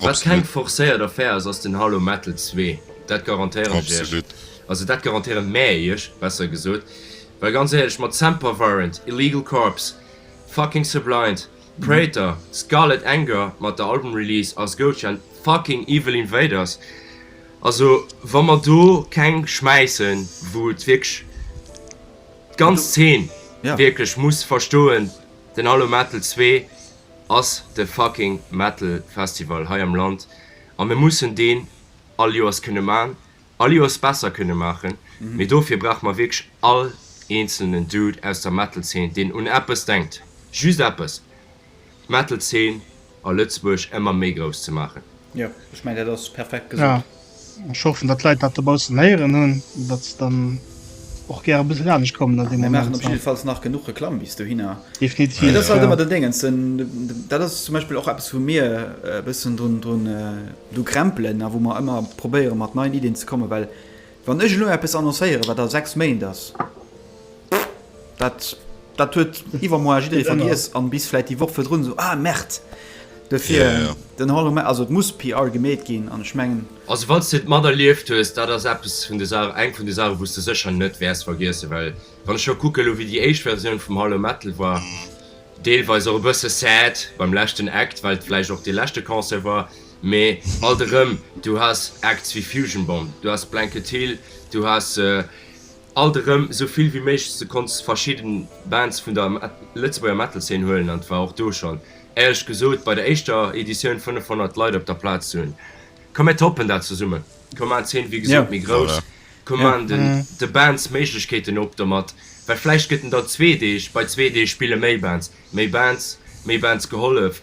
Wat keng forcéiert Affär ass, ass den Halo Metal 2, dat garantéieren ech iech. Also dat garantéieren mäer iech, besser gesot. Well ganz éierlech, mat Semper Virent, Illegal Corps, fucking Subliant, Praetor, Scarlet Anger mat der Album Release ass Goatshand, fucking Evil Invaders, also wa mer do keng schmäissen, wou et wierklech d'ganz Zeen wierklech muss verstoen, den Halo Metal 2, ass de fucking Metal Festival hei am Land a mir mussen deen all Joers kënne maachen, all Joers besser kënne maachen, mee dofir brauche mer wierklech all eenzelnen Dude aus der Metal Zeen, deen un eppes denkt, just eppes, d'Metal Zeen a Lëtzebuerg ëmmer méi grouss ze maachen. Jo, ech mengen dat ass perfekt gesot. Ech hoffen dat d'Leit dat dobaussen héieren hunn, dat se dann och gäre e bësse lanescht kommen an deem Moment. Mir maachen op jidde Falls nach genuch Reklamm bis dohinner. Definitiv. Et ass halt ëmmer den Déngens, dat ass zum Beispill och eppes wou mir e bëssen drun do krämpelen a wou mer ëmmer probéiere mat neien Iddien ze kommen, well wann ech elo eppes annoncéiere wat a sechs Méint ass, Dat, dat huet iwwermoar jidderee vergiess an bis vläit déi Woch virdrun esou, ah Merd, dofir Ja, ja. den Hollow Man, also et muss PR gemeet ginn an ech mengen, Also wann s de et materlieft hues, dat ass eppes vun de Saachen, eng vun de Saachen, wou s de sécher net wäers vergiessen, well wann ech elo kucke elo wéi déi éischt Versioun vum Hollow Metal war, deelweis och e bësse sad beim leschten Act, well et vläicht och dee leschte Concert war, mee alt erëm, du has Acts wéi Fusion Bomb, du has Blanket Hill, du has Alt erëm esou vill wéi méiglech, du konnts verschidden Bands vun der Lëtzebuerger Metal-Szene huelen an et war och do schonn, éierlech gesot, bei der éischter Editioun 500 Leit op der Plaz hunn. Komm mir toppen dat zesummen, komm maan d'Szene wéi gesot méi grouss, komm maan de Bands Méiglechkeeten op domat, well vläicht gëtt en dann zwee Deeg, bei zwee Deeg spille méi Bands, méi Bands, méi Bands gehollef.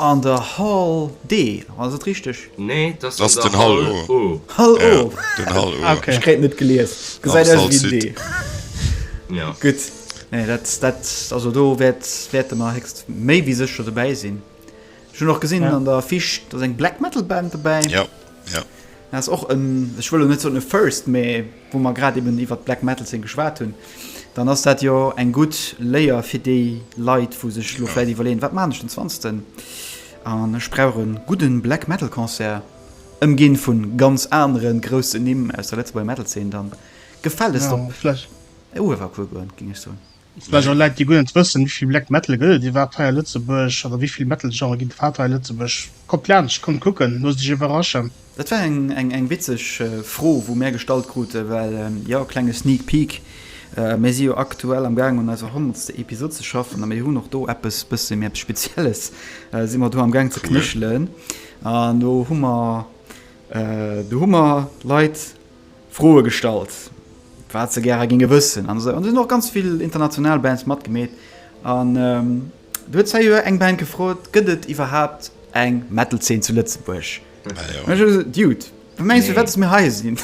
An der Hall D, ass et richteg? Nee, et ass an der Hall O. Hall O, ok. Ech kréien et net gelies. Gesäit aus wéi D. Jo. Gutt. Nee, dat, dat, also do wäert, wäerte mer héchst, méi wéi sécher dobäi sinn. Ech hunn och gesinn an der Fiche, do ass eng Black Metal Band dobäi. Jo. Jo. Dat ass och en, ech wëll elo net soen e First, mä wou mer grad eben iwwert d'Black Metal Zeen geschwat hunn, dann ass dat jo eng gutt Léier fir déi Leit, wou sech elo vläicht iwwerleeën, wat maachen ech den Zwanzegsten an ech brauch e gudde Black Metal Concert, ëmginn vu ganz anere groussen Nimm aus der Lëtzebuerger Metal Zeen, da gefält et op Uewerkuer goen, géing ech soen. Vläicht och Läit déi guer net wëssen wéi vill Black Metal gëtt et iwwerhaapt hei a Lëtzebuerg oder wéi vill Metal Genre ginn et iwwerhaapt hei a Lëtzebuerg. Kommt laanscht, kommt kucken, loosst iech iwwerraschen. Dat war eng witzeg Fro wou mär gestallt kruten, well jo, klenge Sneak Peek, mär si jo aktuell am gaang un eiser honnertste Episode ze schaffen a mir hunn och do eppes bësse méi eppes Spezielles si mer do am gaang ze knéchelen an do hu mer do hu mer Leit, Froe gestallt, wat se gäre géinge wëssen an esou. An et hunn och ganz vill international Bands matgemeet. An do huet d'Sei Joer eng Band gefrot, Gëtt et iwwerhaapt eng Metal-Zeen zu Lëtzebuerg? An ech hu gesot, Dude, wat mengs du, wat datt mir hei sinn?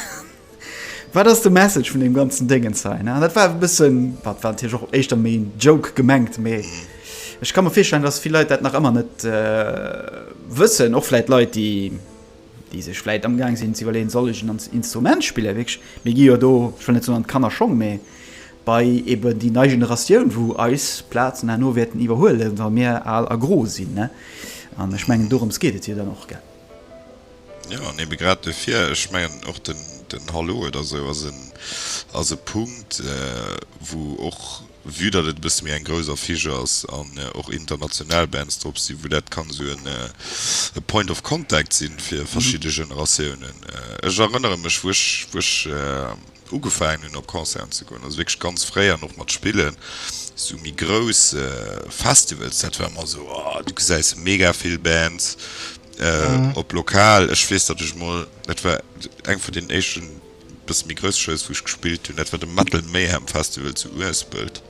Wat ass de Message vun deem ganzen Déngens hei? An dat war e bëssen, wat war natierlech och éischter méi en Joke gemengt, mee ech ka mer virstellen, datt vill Leit dat nach ëmmer net wëssen, och vläicht Leit, déi. déi sech vläit amgaang sinn ze iwwerleeën, soll ech en Instrument spillen, wierklech, mir gi jo do, ech wëll net soen an d'Kannerschong, mä bei eben déi nei Generatioun, wou eis Plazen herno wäerten iwwerhuelen, wa mir al a gro sinn. An ech mengen, dorëms geet et jo dann och, gell? Jo, an ebe grad dofir, ech mengen och den Hallowed a sou ass e Punkt, wou och, Vue datt et e bësse méi eng grouss Affiche ass an och international Bands drop sinn, wou dat kann esou e Point of Contact sinn fir verschidde Generatiounen. Ech erënnere mech, wou ech, wou ech ugefaangen hunn op Concerten ze goen, also wierklech ganz fréi an och mat spillen, sou méi grouss Festivals, dat war ëmmer esou, oh, du gesäis mega vill Bands op lokal. Ech weess, datt ech emol, dat war eng vun deenen éischten, Bësse méi grouss Shows wou ech gespillt hunn, dat war de Metal Mayhem Festival zu Uespelt.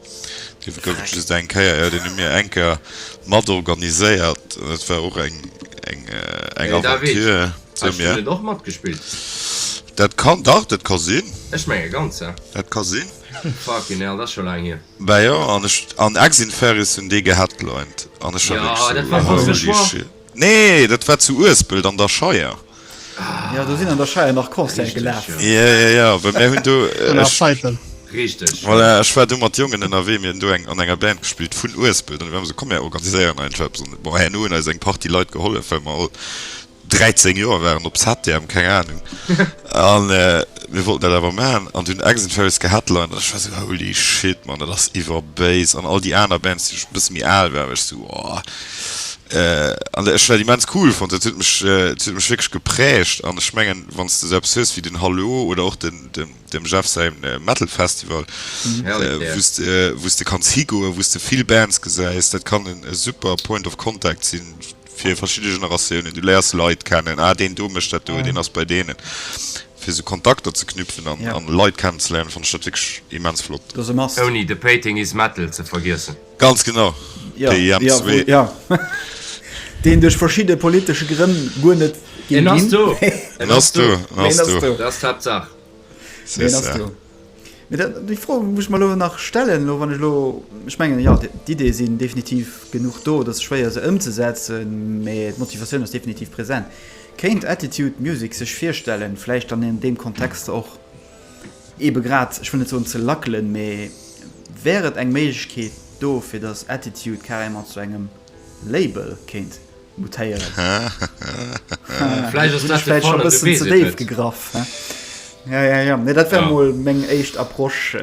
Dee gouf et just eng Kéier, jo, deen hu mir eng Kéier mat organiséiert an dat war och eng eng Aventure. Hues du net och matgespillt? Dat kann, dach, dat ka sinn. Ech menge ganz, ja. Dat ka sinn. Fucking hell, dat ass scho laang hier. Bah jo, an ech an Exinferis hunn dee geheadlined an ech war wierklech sou, holy shit. Nee, dat war zu Uespelt an der Scheier. Jo, do sinn an der Scheier nach Concerte gelaf. Jo, jo, jo, well mir hunn do. Vun der Scheitelen. Richteg. Voilà, ech war do mat Jongen ënnerwee, mir hunn do an enger Band gespillt vun Uespelt an déi waren esou, komm mir organiséieren einfach eppes. An bon, herno hunn eis eng Partie Leit gehollef, well mer all 13 Joer waren, op Satterm, keng Anung. An mir wollten dat awer maachen an hunn Eggs 'n Ferries geheadlined an ech war esou, holy shit, Mann, dat ass iwwerbéis. An all déi aner Bands, déi e bësse méi al waren, war ech esou, oh. An ech hun dat immens cool fonnt, dat huet mech, dat huet mech wierklech geprägt. An ech mengen, wann s de esou eppes hues wéi den Halo oder och den, dem, dem Jeff säi Metal Festival, wou s de, wou s de kanns higoen, wou s de vill Bands gesäis, dat kann en e super Point of Contact sinn fir verschidde Generatiounen. Du léiers Leit kennen, ah, deen do mécht dat do, deen ass bei deenen, fir esou Kontakter ze knüpfen an Leit kennenzeléieren, fonnt ech dat wierklech immens flott. Ouni The Pating Is Metal ze vergiessen. Ganz genau, PIM zwee. Ja, ja, deen duerch verschidde politesche Grënn guer net ginn. En ass do! En ass do! En ass do! Dat ass d'Haaptsaach. C'est ça. Mee déi Fro muss ech mer elo nach stellen, elo wann ech elo, ech mengen, jo, d'Ideeë sinn definitiv genuch do, et ass schwéier se ëmzesetzen, mee d'Motivatioun ass definitiv present. Kéint Attitude Music sech virstellen, vläicht an deem Kontext och, Eebe grad, ech wëll net soen ze lackelen, mä wär et eng Méiglechkeet do, fir datt Attitude carrément zu engem Label kéint mutéieren? Vläicht ass dat de Fall, ech weess et net. Gegraff, hä? Jo, jo, jo, mä dat wär emol meng éischt Approche.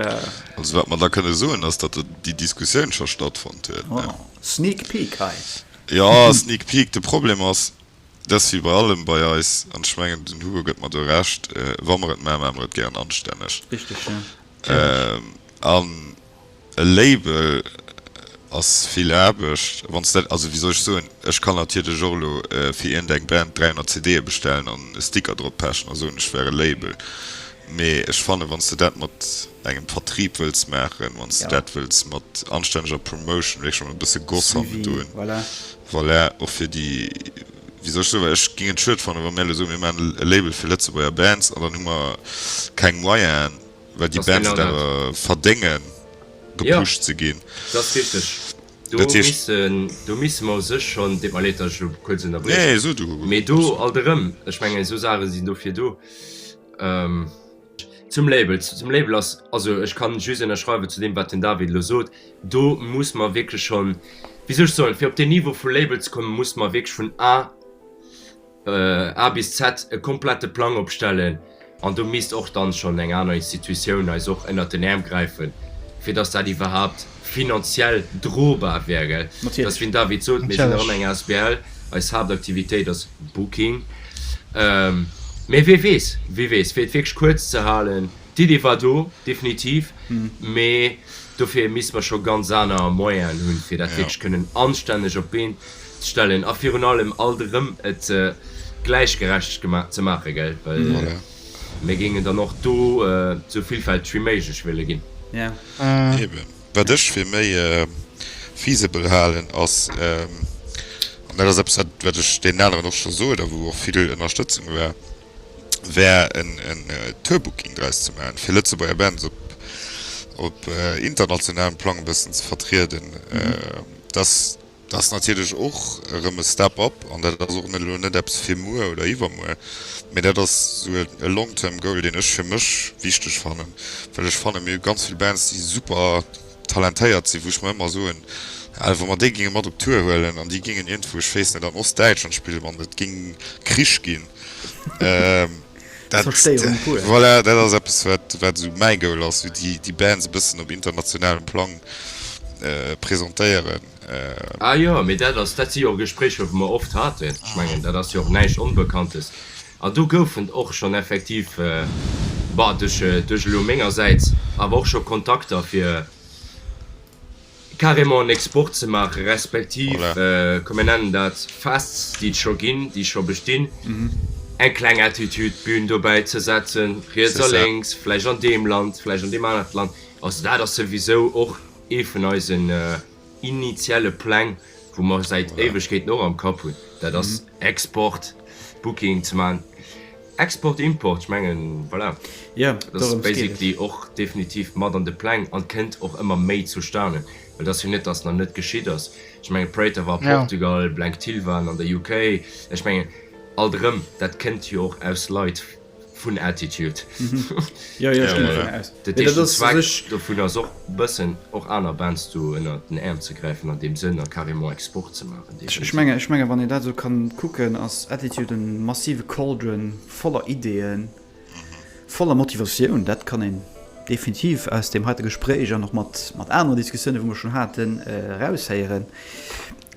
Also wat mer da kënne soen, ass, datt déi Diskussioun scho stattfonnt huet. Oh, sneak peek hei. Jo, sneak peek. De Problem ass, Dass Fiber allem bei eis, an ech mengen den Hugo gëtt mer do Recht, wa mer et man, man mer et gären anstänneg. Richteg jo, natierlech. An e Label ass vill Aarbecht, wann s dat, also wéi soll ech soen, ech kann natierlech och elo fir iergend eng Band 300 CDe bestellen an e Sticker drop pechen a soen ech wär e Label, mee ech fannen wann s de dat mat engem Vertrieb wëlls maachen, wann s de dat wëlls mat anstänneger Promotion, wierklech mat e bësse Goss hannendrun, Voilà, och fir déi, wéi soll ech soen, well ech géing et schued fannen, wa mir elo soen, mir maachen e Label fir Lëtzebuerger Bands an dann hu mer keng Moyenen, well déi Bands et awer verdéngen, gepusht ze ginn. Dat ass richteg. Do misse, do misse mer u sech schonn, deet mer leed, datt ech elo kuerz ënnerbrechen, mee do alt erëm, ech mengen, esou Saache sinn dofir do. Zum Label, zum Label ass, also ech kann just ënnerschreiwen zu deem wat den David elo sot, do muss mer wierklech schonn, wéi soll ech soen, fir op deen Niveau vu Label ze kommen, muss mer wierklech vun A, A bis Z e komplette Plang opstellen an do misst och dann schonn eng aner Institutioun eis och ënnert den Äerm gräifen, fir datt dat iwwerhaupt. finanziell drobar wäre. Dass, wéi den David sot, mir sinn erëm eng asbl, eis Haaptaktivitéit ass Booking. Mee wie weess, wie weess. Fir et wierklech kuerz ze halen, d'Iddi war do, definitiv. Mee dofir misste mer scho ganz aner Moyenen hunn, fir dat wierklech kënnen anstänneg op d'Been ze stellen a virun allem alt erëm et gläichgerecht ze maachen. Mir géingen dann och do sou villfälteg wéi méiglech wëlle ginn. Wat ech fir méi feasible halen, ass, an dat ass eppes, wat ech deenen aneren och scho sot a wou och vill Ënnerstëtzung war, wär en Tourbooking draus ze maachen, fir Lëtzebuerger Bands op internationalem Plang e bëssen ze vertrieden. Dat ass natierlech och erëm e Step up an dat ass och elo net eppes fir muer oder iwwermuer, mee dat ass esou e long-term goal, deen ech fir mech wichteg fannen, well ech fannen, mir hu ganz vill Bands, déi super talentéiert sinn, wou ech mer ëmmer soen, Alter, wa mer déi géinge mat op Tour huelen an déi géingen iergendwou, ech weess net, an Ostdäitschland spillen, Mann, et géing Krich ginn. Dat, Zerstéierung pur. Voilà, dat ass eppes, wat, wat esou mäi Goal ass, wéi déi, déi Bands e bëssen op internationalem Plang presentéieren. Ah jo, mee dat ass, dat si jo och Gespréicher, wou mer oft haten. Ech mengen, dat ass jo och näischt Onbekanntes. An do goufen och schonn effektiv, bah, duerch, duerch elo mengersäits awer och scho Kontakter fir. carrément en Export ze maachen, respektiv, komm mir nennen dat Fests, déi et scho ginn, déi scho bestinn, eng kleng Attitude Bühn dobäi ze setzen, riets a lénks, vläicht an deem Land, vläicht an deem anert Land. Also dat ass souwisou och ee vun eisen initiale Pläng. wou mer säit Éiwegkeeten och am Kapp hunn, dat ass Export, Booking ze maachen, Export, Import, ech mengen, voilà, dat ass basically och definitiv mat an de Pläng an kënnt och ëmmer méi zustane, well et ass jo net, dass nach net geschitt ass. Ech mengen, Praetor war a Portugal, Blank Till waren an der UK, ech mengen, alt erëm, dat kënnt jo och aus Leit, vun Attitude vun ass och bëssen och aner Bands do ënner den Äerm ze gräifen an deem Sënn a carrément Export ze maachen. Ech menge ech menge wann een dat esou ka kucken, ass Attitude e massive Cauldron voller Ideeën, voller Motivatioun. Dat kann een definitiv aus deem heite Gespréich an och mat mat anere Diskussioune wou mer schonn haten eraushéieren.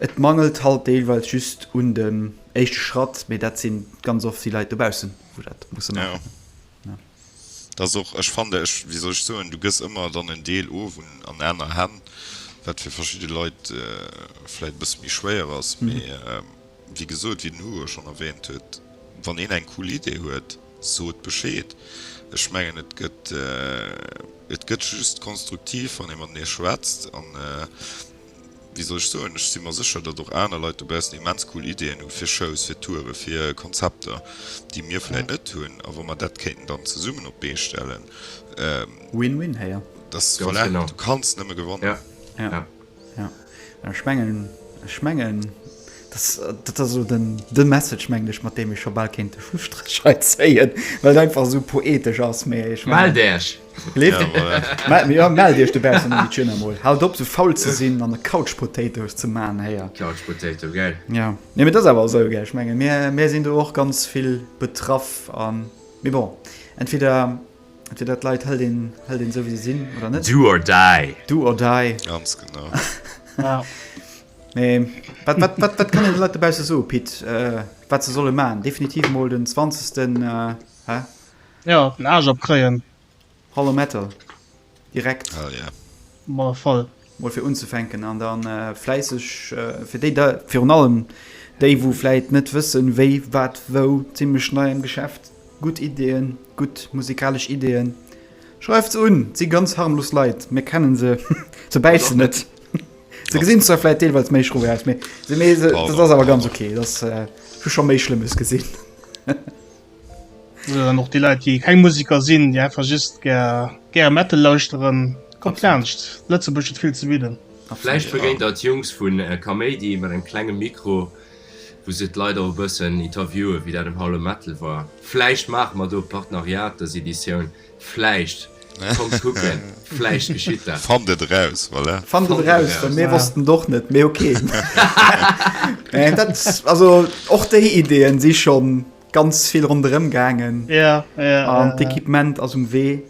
Et mangelt halt deelweis just un dem. Éischte Schratt, mee dat sinn, ganz oft si Leit dobaussen, wou dat musse maachen. Jo, dat ass och, ech fannen, ech, wéi soll ech soen, du gëss ëmmer dann en Deel of un, an aner Hänn, wat fir verschidde Leit vläit e bësse méi schwéier ass. Mee wéi gesot, wéi den Hugo schonn erwähnt huet, wann een eng cool Idee huet, sot Bescheed. Ech mengen, et gëtt, et gëtt just konstruktiv, wann ee matenee schwätzt an Wéi soll ech soen, ech si mer sécher, datt och aner Leit dobaussen immens cool Ideeën hu fir Shows, fir Toure, fir Konzepter, déi mir vläit net hunn. A wa mer dat kéinten dann zesummen op d'Bee stellen. Win-win héier. Dass, voilà, du kanns nëmme gewannen. Ja, ja. An ech mengen, ech mengen, dass, dat ass elo den, de Message, mengen ech, mat deem ech scho bal kéint de Schlusstréch hei zéien, well et einfach esou poetesch ass, mä ech mengen. Mellt Äech! Ja, mellt iech dobaussen an de China mol. Haalt op sou faul ze sinn an der Couch Potatoes ze man héier. Couch Potato, geil. Ja, nee mee et ass awer esou, gell, ech mengen mir mir sinn do och ganz vill betraff an mee bon entweder entweder d'Leit hëlt een hëlt een esou wéi se sinn oder net. Do or die. Do or die. Ganz genau. Ja. Mee wat wat wat wat kann een de Leit dobausse soe Pit wat se solle man? Definitiv mol den 20. Hä? Jo, den Aarsch opkréien. Hollow Metal direkt. Oh yeah. Ma voll. Mol fir unzefänken an dann äh, fläisseg äh, fir déi da virun allem déi wou vläit net wëssen wéi wat wou zimmlech nei am Geschäft gutt Ideen gutt musikalesch Ideen schreift's un si ganz harmlos Leit mir kennen se se bäissen net se gesinn zwar vläit deelweils méi schroe aus mee se mee se, das ass awer ganz okay das äh, schon méi schlimmes gesinn Och déi Leit, déi keng Museker sinn, déi einfach just gär Metal lauschteren, kommt laanscht, Lëtzebuerg huet vill ze bidden. A vläicht begéint der d'Jungs vu Kaméidi mat engem klenge Mikro, wou se d'Leit och e bëssen interviewen, wéi dat um Hall um Metal war. Vläicht maache mer do e Partenariat dës Editioun, vläicht. Kommt kucken, vläicht geschitt dat. Fannt et eraus, voilà. Fannt et eraus, well mir wossten et och net, mee ok. Also, och déi Ideeën si schonn ganz vill ronderëm gaangen an d'Equipement ass um Wee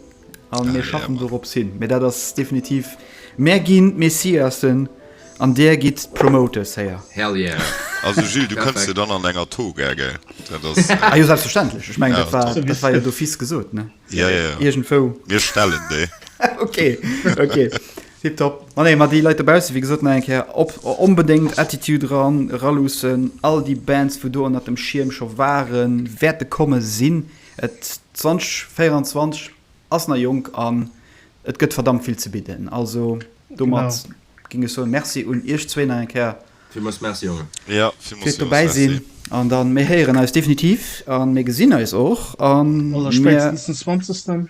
a mir schaffen dorops hin. Mee dat ass definitiv mé ginn d'Messiassen an Dir gitt d'Promoters héier. Also Gilles, du kënns jo dann an enger Toga, gell? Ah jo, selbstverständlech. Ech mengen, dat war dat war jo d'office gesot, ne? Jo, jo, jo. Iergendwou. Mir stellen déi. Okay, okay. Tiptop. Ma nee, ma déi Leit dobaussen, wéi gesot, nach eng Kéier, op, onbedéngt Attitude eran, eraluussen, all déi Bands, wou do ënnert dem Schierm scho waren, wäerte komme sinn. Et, 2024 ass nach jonk an et gëtt verdammt vill ze bidden. Also domat géing ech soen, Merci un iech zwéin nach eng Kéier. Villmools Merci, Jongen. Jo, villmools, villmools Merci. Fir dobäi sinn. An dann, mir héieren eis definitiv a mir gesinn eis och. An mir. Allerspäitstens den 20.